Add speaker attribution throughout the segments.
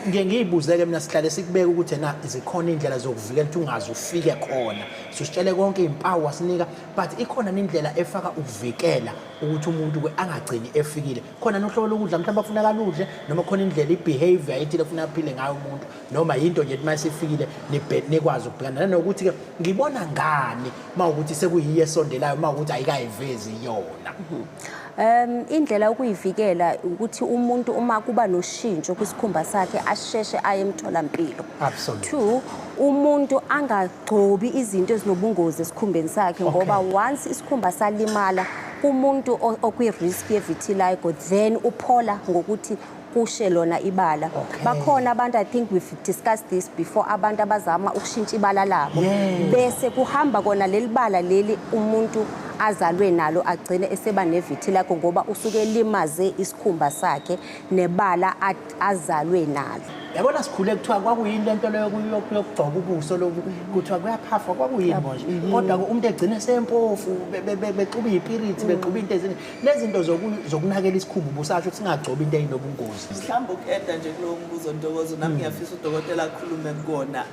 Speaker 1: ngike ngiyibuzeke mina sihlale sikubeka ukuthi na zikhona indlela zokuvikela ukuthi ungaze ufike khona sisitshele konke izimpawu wasinika but ikhona indlela efaka ukuvikela ukuthi umuntu ke angagcini efikile khona nohlobo lokudla mhlawumbe afuna kaludle noma khona indlela ibehavior ethile funa aphile ngayo umuntu noma yinto nje uma sifikile nikwazi ukubhekana nanokuthi ke ngibona ngani uma ukuthi sekuyiye esondelayo uma ukuthi ayikayivezi yona mhm. Um
Speaker 2: indlela yokuyivikela ukuthi umuntu uma kuba noshintsho kwisikhumba sakhe asheshe aye emtholampilo. Absolutely.
Speaker 1: Two,
Speaker 2: umuntu angagcobi izinto ezinobungozi esikhumbeni sakhe ngoba once isikhumba salimala kumuntu okwi-risk ye-vitiligo then uphola ngokuthi kushe lona ibala okay. bakhona abantu i think we've discussed this before abantu abazama ukushintsha ibala labo yeah. bese kuhamba kona leli bala leli umuntu azalwe nalo agcine eseba nevithi lakho ngoba usuke elimaze isikhumba sakhe nebala azalwe nalo yabona sikhule kuthiwa
Speaker 1: kwakuyini lento leyo yokugcoka ubuso lobu kuthiwa kuyaphafwa kwakuyini manje kodwa umuntu egcine sempofu bexuba iyipirithi bexuba into ezini lezinto zokunakela isikhumba ubusasho ukuthi singagcobi into eyinobungozi mhlawumbe uku-eda nje
Speaker 3: kulowo mbuzo ntokozo nami hmm. ngiyafisa udokotela akhulume kukona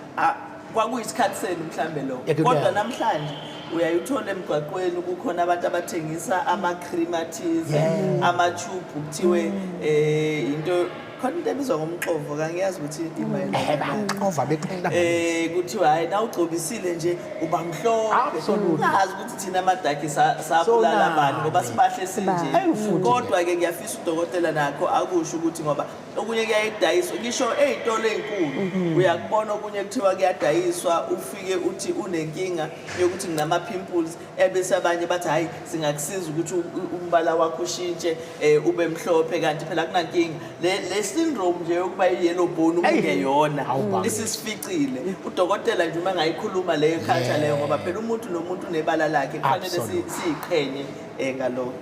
Speaker 3: kwakuyisikhathi senu mhlawumbe lokho kodwa namhlanje uyayithola emgwaqweni kukhona abantu abathengisa ama-cream athize ama-tube kuthiwe um eh, into khona into ebizwa ngomxovo kangiyazi ukuthi imayelanaxova beqela um eh, kuthiwa hhayi na ugcobisile nje uba mhlopheungazi ukuthi thina amadaki sabulala bani ngoba sibahle sinje kodwa-ke ngiyafisa udokotela nakho akusho ukuthi ngoba okunye kuyayidayiswa ngisho ey'tolo ey'nkulu mhm. uyakubona okunye kuthiwa kuyadayiswa ufike uthi unenkinga yokuthi nginama-pimples ebese abanye bathi hhayi singakusiza ukuthi umbala wakho ushintshe um ube mhlophe kanti phela kunankinga le syndrome nje yokuba i-yellow bone umungeyona isisificile udokotela nje uma ngayikhuluma leyo khatha leyo ngoba phela umuntu nomuntu unebala lakhe kufanele siyiqhenye um ngalokho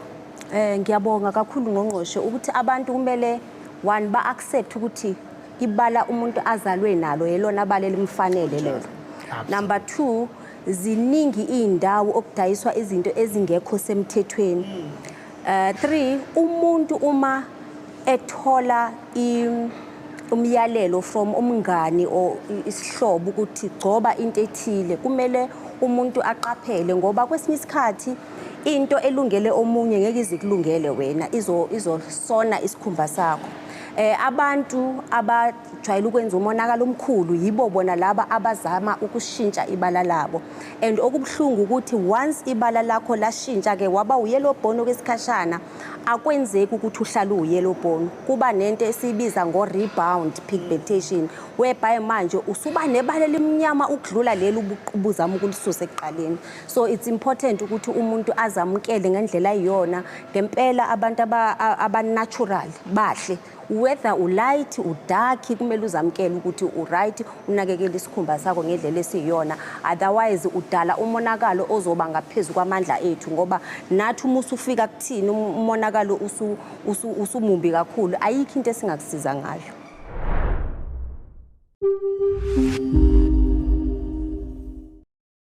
Speaker 3: um ngiyabonga
Speaker 2: kakhulu ngqongqoshe ukuthi abantu kumele one ba-accept ukuthi ibala umuntu azalwe nalo yelona bala elimfanele lelo number two ziningi iy'ndawo okudayiswa izinto ezingekho semthethweni um three umuntu uma ethola umyalelo from umngani or isihlobo ukuthi gcoba into ethile kumele umuntu aqaphele ngoba kwesinye isikhathi into elungele omunye ngeke izikulungele wena izosona isikhumba sakho um abantu jwayele ukwenza umonakalo omkhulu yibo bona laba abazama ukushintsha ibala labo and okubuhlungu ukuthi once ibala lakho lashintsha ke waba uyellow bone okwesikhashana akwenzeki ukuthi uhlale uyellow bone kuba nento esiyibiza ngo rebound pigmentation whereby manje usuba nebala elimnyama ukudlula leli ubuzama ukulisusa ekuqaleni so it's important ukuthi umuntu azamukele ngendlela iyona ngempela abantu aba natural bahle whether ulight udark kumele uzamkele ukuthi uright unakekele isikhumba sakho ngedlela esiyiyona otherwise udala umonakalo ozoba ngaphezulu kwamandla ethu ngoba nathi uma usufika kuthini um, umonakalo usumumbi kakhulu ayikho into esingakusiza ngayo